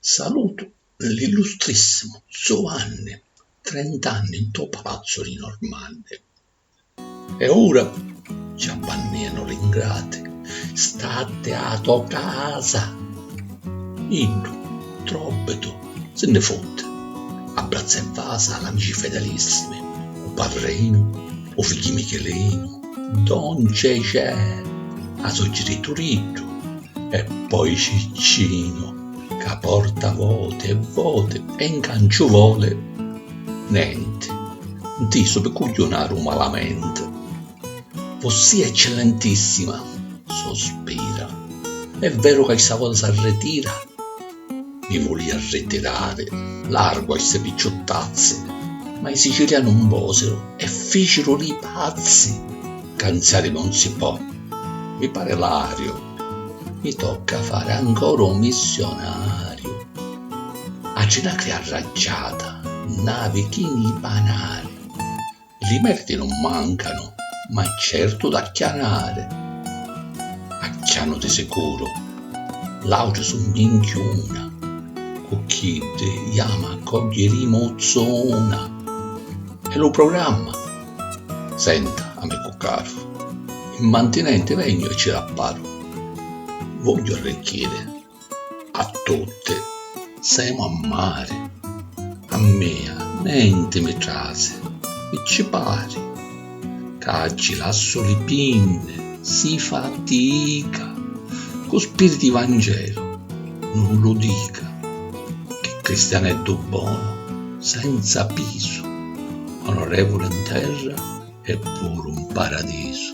Salutu l'illustrissimu Zuvanni, trent'anni ntô palazzu dî Normanni. E ora ci abbannenu l'ingrati, statti â tò casa. Iddu, tròbbitu, si nni futti, abbràzza e vasa l'amici fedelissimi, u patrinu, u figghi Michilinu, don Cecè, a sò jiritu Riddu e poi Ciccinu. Ca porta voti e voti e 'nca 'nciu voli nenti, 'ntisu pi cugghiunaru malamenti. Vossia Eccellentissima, sospira, è veru ca chista vota s'arritira? Mi vulìa arritirari, largu a sti picciuttazzi, ma i Siciliani 'un vosiru e ficiru li pazzi! Canzari non si pò, mi pari lariu, mi tocca fari ancora u missionariu. A ginacria arraggiata n'avi chi nni panari, li merdi non mancanu, ma certu d'acchianari. Acchianu di sicuru, l'autri su minchiuna, cu chiddi jamu a cogghi rimuzuna. E lu programma? Senta, amicu caru, in mantinenti vegnu e ci l'apparu. Vogghiu arricchiri a tutti, semu a mari. A mia nenti mi trasi, mi ci pari. Ca ci lassu li pinni, si fatica. Cu spiriti i vangelu nun lu dica. Chi cristianeddu bonu, senza pisu. Onorevuli 'n terra e puru 'n paradisu.